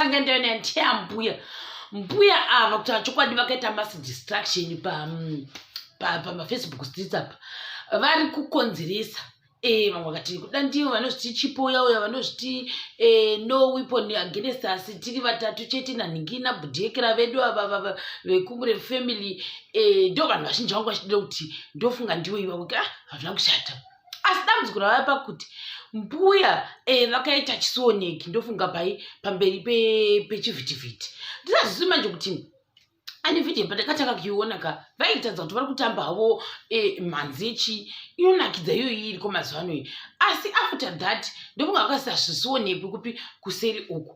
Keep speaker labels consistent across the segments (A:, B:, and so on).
A: ndanga ndaenda ndeya mbuya mbuya ava kuti achokwadi vakaita mass distraction pamafacebook pa, pa streets apa vari kukonzeresa e, vamwe vakati kuda ndivo vanozviti chipo yauya vanozviti e, no weapon against us tiri vatatu chete nanhingi nabhudhiekera vedu avavava vekumure family e, ndo vanhu vazhinji vangu vachidira kuti ndofunga ndivo ivavo ka ah, hazvina kushata asi dambudziko ravaya pakuti mbuya eh, vakaita chisioneki ndofunga pai pamberi pechivhitivhiti ndisazvisi manje kuti ane vhidhiyo pandakatanga kuiona ka vaitadza kuti vari kutamba havo eh, mhanzi yechi inonakidza iyoyi iriko mazuva anoyi asi after that ndofunga vakasazvisionekwi kupi kuseri uku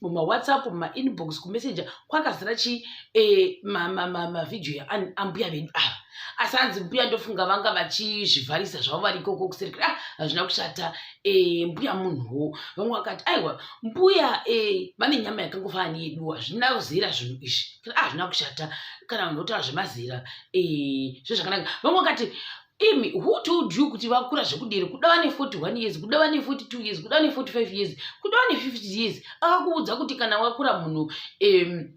A: mumawhatsapp mumainbox kumessenger kwakazara chi eh, mavhidhiyo ma, ma, ma yaambuya vedu ava asi hanzi mbuya ndofunga vanga vachizvivharisa zvavo vari ikoko kuserekera ah, hazvina kushata eh, mbuya munhuwo vamwe vakati aiwa mbuya eh, vane nyama yakangofana neyedu hazvina kuzera zvinhu izvi ah, hazvina kushata kana vanhu votaura zvemazera eh, zvezvakanaka vamwe vakati imi who told you kuti vakura zvekudere kuda vane 41 years kuda vane 42 years kuda vane 45 years kuda vane 50 years akakuudza kuti kana wakura munhu um,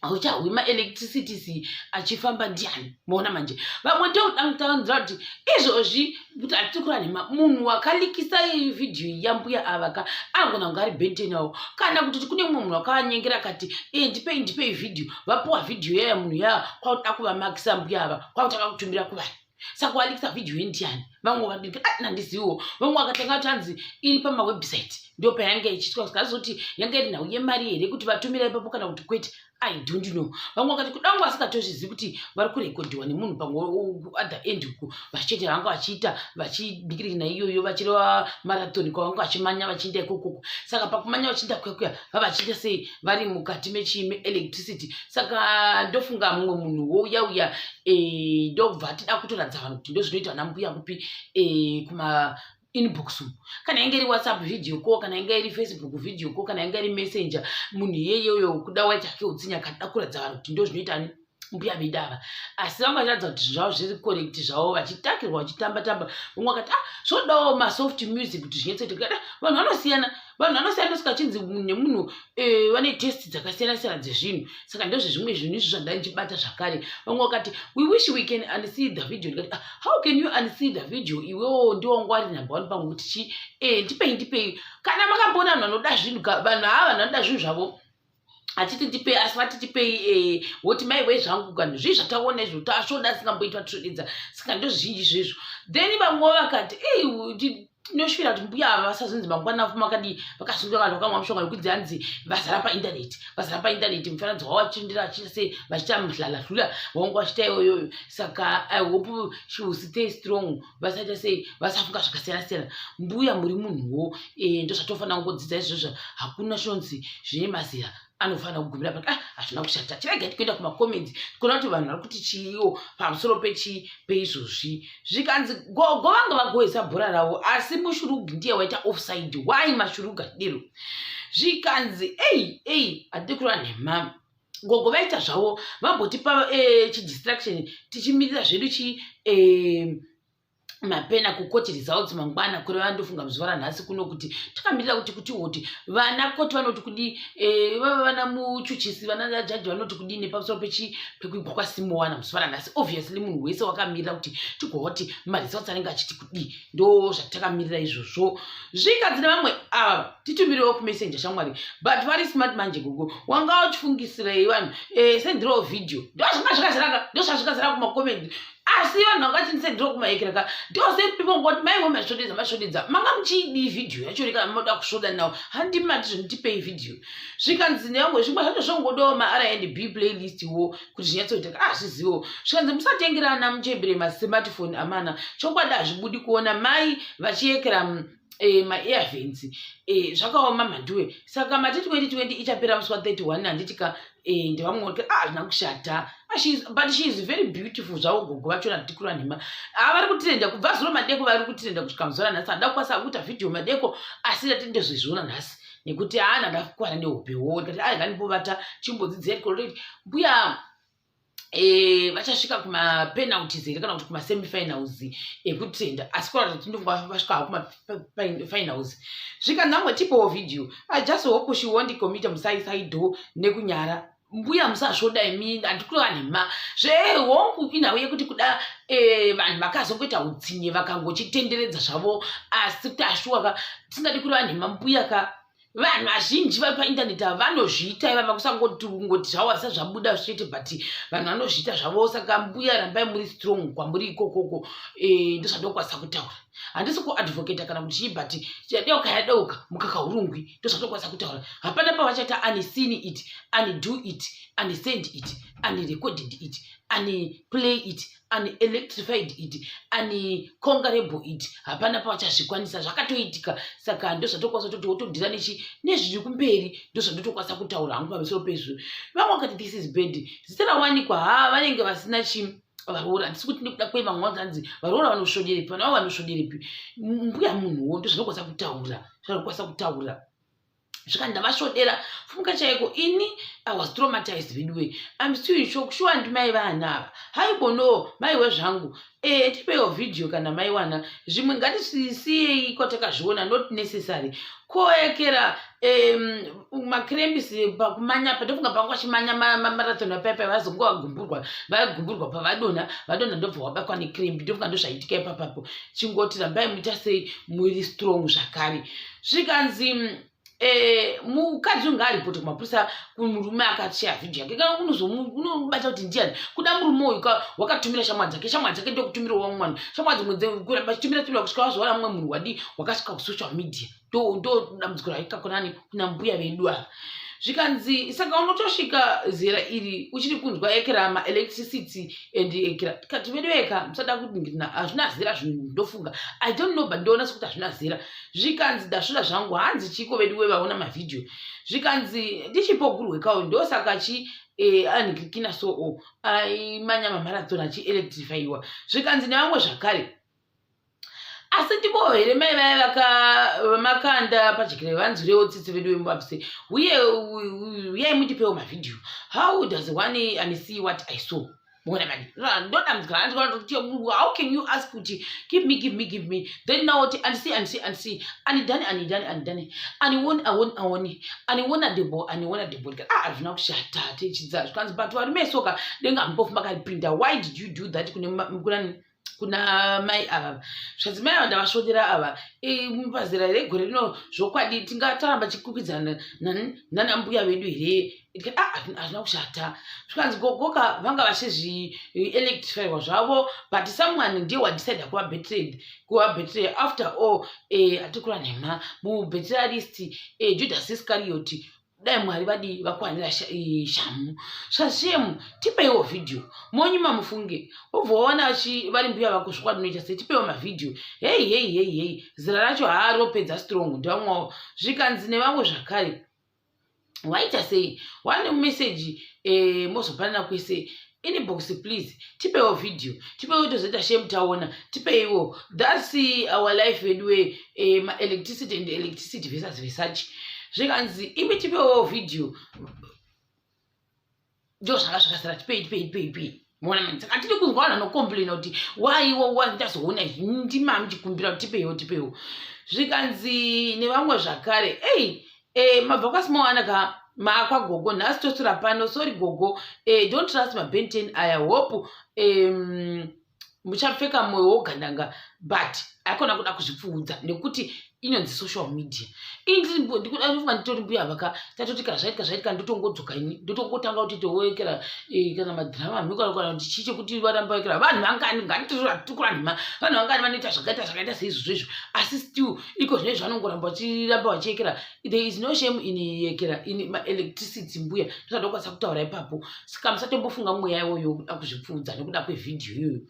A: hauchahwi maelectricities achifamba ndiani moona manje vamwe totangtanzira kuti izvozvi kuti hatiri kura nhema munhu wakalikisa vhidhiyo yambuya ava ka anogona kunge ari bentenawo kana kuti kune mumwe munhu wakavanyengera kati e ndipei ndipei vhidhiyo vapuwa vhidhiyo yaya munhu yaya kwakuda kuvamakisa mbuya ava kwakutanga kutumbira kuvanhu saka walikisa vhidhiyo yendiani vamwe vadii ah, nandiziviwo vamwe vakatanga tanzi iri pamawebsite ndo payanga ichiitwa sikazoti yanga iri nhau yemari here kuti vatumira ipapo kana kuti kwete i don't know vamwe vakati kudangu vasikatozvizivi kuti vari kurekodiwa nemunhu pamwe other end uku vachete vanga vachiita vachidikirina iyoyo vachireva marathon kwavanga vachimanya vachiinda ikokoko saka pakumanya vachiinda kuya kuya vavachiita sei vari mukati mechiime electricity saka ndofunga mumwe munhu wouya uya eh, ndobva tida kutoratidza vanhu kuti ndozvinoita vana mbuya kupi eh, kuma inbox kana inge iri whatsapp video ko kana inge iri facebook video ko kana inge iri messenger munhu iyeye uyo kuda waitake utsinye akada kuratidza vanhu kuti ndozvinoita ni mbuya vedu ava asi vamwe vachitaridza kuti zvinhu zvavo zviri correct zvavo vachitakirwa vachitamba tamba vamwe vakati ah zvodawo masoft music kuti zvinyetsete kukati ah, vanhu vanosiyana vanhu vanosiyana sikachinzi nemunhu eh, vane test dzakasiyana siyana dzezvinhu saka ndozvezvimwe zvinhu izvo zvandandichibata zvakare vamwe vakati we wish we can unsee the video ndikati ah, how can you unsee the video iwewo ndiwo wangu ari number one pangu kuti chi e eh, ndipei ndipei kana makamboona vanhu vanoda zvinhu vanhu ava vanhu vanoda zvinhu zvavo achiti ndipei asi vati tipei eh, woti mai wei zvangu kani zvii zvataona izvo tasvoda asingamboitwa tisvodidza saka ndozvinji zvezvo then vamwe vakati ei tinosvira kuti mbuya ava vasazonzi mangwana afu makadii vakasungira vanhu vakamwa mushonga yokunzi hanzi vazara paintaneti vazara paintaneti mufananidzo wavo vachirindira vachiita sei vachiita mhlalahlula vaunga vachiita iyoyoyo saka i hope she will stay strong vasaita sei vasafunga zvakasiyana siyana mbuya muri munhuwo eh, ndozvatofanira kungodzidza izvozvo hakuna shonzi zvine mazira anofanira kugumira pati ah hazvina kushata tirega tikuenda kumacomments kuona kuti vanhu vari kuti chiiwo pamusoro pechii peizvozvi zvikanzi gogo vanga vagohwisa bhora ravo asi mushurugu ndiye waita offside why mashurugu adiro zvikanzi ei ei hatidi kurwa nhema gogo vaita zvavo vambotipa eh, chidistraction tichimirira zvedu chi eh, mapena kukoti results mangwana kure vandofunga muzuva ranhasi kuno kuti takamirira kuti kuti woti vana koti vanoti kudii eh, vava vana muchuchisi vana jaji vanoti kudii nepamusoro pechi pekuigwa kwasimowana muzuva ranhasi obviously munhu wese wakamirira kuti tigooti maresults anenge achiti ndo zvatakamirira izvozvo zvigadzira vamwe ava ah, titumirewo kumessenger shamwari but vari smart manje gogo wanga uchifungisirei vanhu eh, sendirawo video ndozvanga zvakaziraka ndozvazvikaziraka kumacomendi asi vanhu vanga vachindisendirwa kumaekeraka ndosepipongoti maiwe masvodedza masvodedza manga muchiidii vhidhiyo yacho rekana moda kusvoda nawo handimati zvonditipei vhidhiyo zvikanzi nevamwe zvimwe zvacho zvongodawo marnb playlist wo kuti zvinyatsoitaka azvizivo ah, zvikanzi musatengera ana muchembere masmartphone amana chokwadi hazvibudi kuona mai vachiyekera mm, eh, maearvens eh, zvakaoma mhanduwe saka mati 2020 ichapera musi wa 31 handiti ka eh, ndevamweoti a ah, hazvina kushata but she is very beautiful zvavo gogo vacho natikurwa nhema haa ah, vari kutirenda kubva zuro madeko vari kutirenda kusvika muzora nhasi handa kukwanisa kuita vhidhiyo madeko asi ndati ndezvezviona nhasi nekuti haana da kukwana nehope wo ndikati ai ngandibovata chimbodzidzei koloreti mbuya Eh, vachasvika kumapenalties here kana kuti kumasemifinals ekutenda asi kora kuti ndovasvika ha kumafinals zvikanzi angotipawo video i just hope she won't commit musaisaidho nekunyara mbuya musazvoda imi andikureva nhema zvehongu inhau yekuti kuda eh, vanhu vakazongoita utsinye vakangochitenderedza zvavo asi kuti ashuwa ka tisingadi kureva nhema mbuya ka vanhu vazhinji vari paintaneti ava vanozviita ivava kusangoti kungoti zvawasa zvabuda zvichete but vanhu vanozviita zvavo saka mbuya rambai muri strong kwamuri ikokoko eh, ndozvandokwanisa kutaura handisi kuadvocata kana kuti chii but yadeuka yadeuka mukaka urungwi ndozvatokwanisa kutaura hapana pavachaita ani seen it ani do it ani send it ani recorded it ani play it ani electrified it ani congarable it hapana pavachazvikwanisa zvakatoitika saka ndozvatokwanisa kutoti wotodhira nechi nezviri kumberi ndozvandotokwanisa kutaura hangu pamusoro pezvo vamwe vakati this is bad zita rawanikwa haa vanenge vasina chii varoora handisi kuti nekuda kwei vamwe vanzi hanzi varoora vanosvoderepi vana vavo vanosvoderepi mbuya munhuwo ndozvinokwanisa kutaura zvaanokwanisa kutaura svika ndavasvodera fumuka chaiko ini i was traumatized veduwe im still in shock shuwa ndi mai vana ava haibono mai wezvangu e eh, tipewo vhidhiyo kana mai wana zvimwe ngatisisiyei kwatakazviona not necessary koekera um, macrems pakumanya pandofunga panga vachimanya marathon apaipa vazonga vagumburwa vagumburwa pavadona vadona ndobva wabakwa necremb ndofunga ndozvaitika ipapapo chingoti rambai muita sei muiri strong zvakare zvikanzi Eh, mukadzi unge aripoti kumapurisa kumurume akashaya vhidhio yake kana unozomubata kuti ndiani kuda murume uyu ka wakatumira shamwa dzake shamwa dzake ndokutumira wamwe mwana shamwa dzimwe kuramba chitumira tumira kusvika wazoona mumwe munhu wadii wakasvika kusocial media ndodambudziko raita kunani kuna mbuya vedu ava zvikanzi saka unotosvika zera iri uchiri kunzwa ekerama electricity and ekera tikati vedoveka musada kudingirina hazvina zera zvinhu ndofunga i don't know but ndoona sekuti hazvina zera zvikanzi ndasvira zvangu hanzi chiiko vedu wevaona mavhidhiyo zvikanzi ndichipogurwekawo ndosaka chi Eh, anhikikina soo aimanya mamarathon achielectrifyiwa zvikanzi nevamwe zvakare asi ndiboho here mai vaye vamakanda padyikire vanzwirewo tsitsi vedu vemubabise uye uyai mutipewo mavhidhiyo how does one and see what i saw mona mani ndodambudzikana andikati how can you ask kuti give me give me give me then now oti andisi andisi andisi anidani anidani anidani aniwoni awoni awoni aniwona debo aniwona debo ndikati ah hazvina kushata techidzaa zvikanzi but varume soka denga hamupofuma karipinda why did you do that kune kunani kune kuna mai ava zvanzi mai ava ndavasvodera ava pazera here gore rino zvokwadi tingataramba chikwikwidzaana nana mbuya vedu here ah, hazvina kushata zvikanzi gogoka vanga vachizvielectrifywa zvavo but someone ndiye wadecide kuva betrayed kuva betrayed after all eh, atikurwa nhema mubetera list eh, judas iscariot dai mwari vadii vakwanira shamu shashemu tipeiwo vhidhiyo monyuma mufunge obva waona vari mbuya vako zvokwatinoita se tipeiwo mavhidhiyo heyi heyi heyi heyi zira racho haa ropedza strong ndivamwawo zvikanzi nevamwe zvakare waita sei wane meseji eh, mozopanana kwese inbox please tipewo video tipewo tozoita shame taona tipeiwo thats our life veduwe eh, maelectricity and electricity vesas vesachi zvikanzi imi tipewo video ndo zvanga zvakasara tipei tipei tipei tipei mona mani saka tiri kunzwa vanhu vanocomplaina kuti waiwo wa ndazoona ndimami chikumbira kuti tipeiwo tipeiwo zvikanzi nevamwe zvakare ei Eh, mabva kwasimowana ka maakwa gogo nhasi tosura pano sorry gogo eh, don't trust mabenten aya hope um, muchapfeka mwoyo wogandanga but aikona kuda kuzvipfuudza nekuti inonzi social media inindikuda kufunga nditori mbuya vaka tatoti kana zvaitika zvaitika ndotongodzoka ini ndotongotanga kuti toekera eh, kana madrama amikanakana kuti chii chekuti varamba ekera vanhu vangani nganitiratikurandima vanhu vangani vanoita zvakaita zvakaita seizvozvo izvo asi still iko zvine zvanongoramba vachiramba vachiyekera there is no shame in yekera in maelectricity mbuya ndozvandokwanisa kutaura ipapo saka musatombofunga mweya iwoyo kuda kuzvipfuudza nekuda kwevhidhiyo iyoyo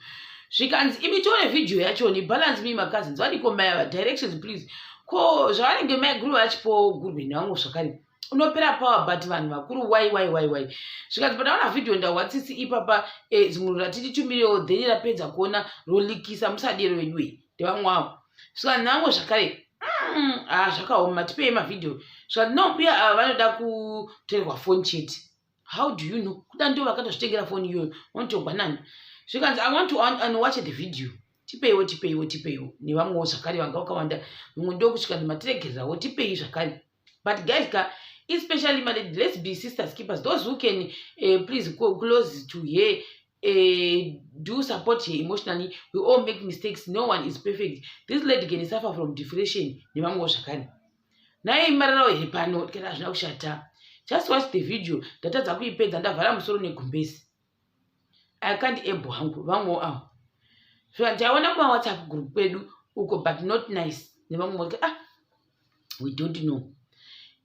A: zvikanzi imi tione vhidhiyo yacho ni balance me macousins vadiko maya vadirections please ko zvavanenge maiguru vachipo gurwe navo zvakare unopera power but vanhu vakuru why why why why zvikanzi pataona vhidhiyo ndahwatsisi ipapa eh, zimuru ratititumirewo then rapedza kuona rolikisa musadero weduwei ndevamwe wavo saka ndinango zvakare mm, ah, zvakaoma tipei mavhidhiyo saka ndinambuya ava vanoda kutorerwa foni chete how do you know kuda ndo vakatozvitengera foni iyoyo vanotongwa nani zvikanzi i want to unwatch the video tipeiwo tipeiwo tipeiwo nevamwewo zvakare vanga vakawanda mumwe ndokusvika nematiregererawo tipei zvakare but guys ka especially malady let's be sisters keepers those who can uh, please close to her uh, do support her emotionally we all make mistakes no one is perfect this lady can suffer from depression nevamwewo zvakare naye imararawo here pano kana hazvina kushata just watch the video ndatadza kuipedza ndavhara musoro negumbesi i can't able hangu vamwewo avo so ndaiona kumawhatsapp group kwedu uko but not nice nevamwe moti ah we don't know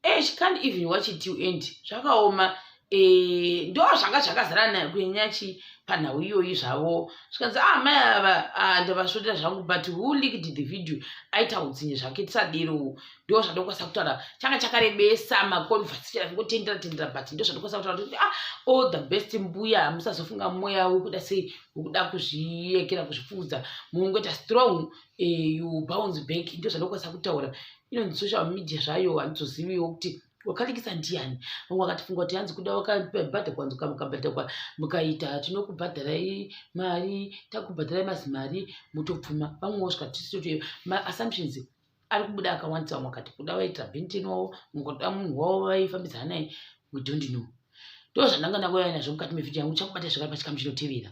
A: eh, she can't even watch it till end zvakaoma eh, ndo zvanga zvakazara nayo kunyanya chi panhau iyoyi zvavo zvikanzi ah mai ava ah, ndavasvotera zvangu but who liked the video aita utsinye zvake tisadero ndo zvandokwanisa kutaura changa chakarebesa maconversation aingotendera tendera but ndo zvandokwanisa kutaura kuti ah all the best mbuya musazofunga mweya wekuda sei wekuda kuzviyekera kuzvipfuudza mungoita strong eh, you bounce back ndo zvanokwanisa kutaura inonzi social media zvayo handizoziviwo kuti wakalikisa ndiani vamwe vakatifunga kuti hanzi kuda wakabhadha kwanzi kamukabhadhakwa mukaita tinokubhadharai mari takubhadharai mazi mari mutopfuma vamwe wosvika tisitoto maassumptions ari kubuda akawandisa vamwe wakati kuda vaitira benten wavo mukakuda munhu wavo vaifambidzana naye we don't know ndo zvandanga ndangouya nazvo mukati mevhidhi yangu uchakubata zvakari pachikamu chinotevera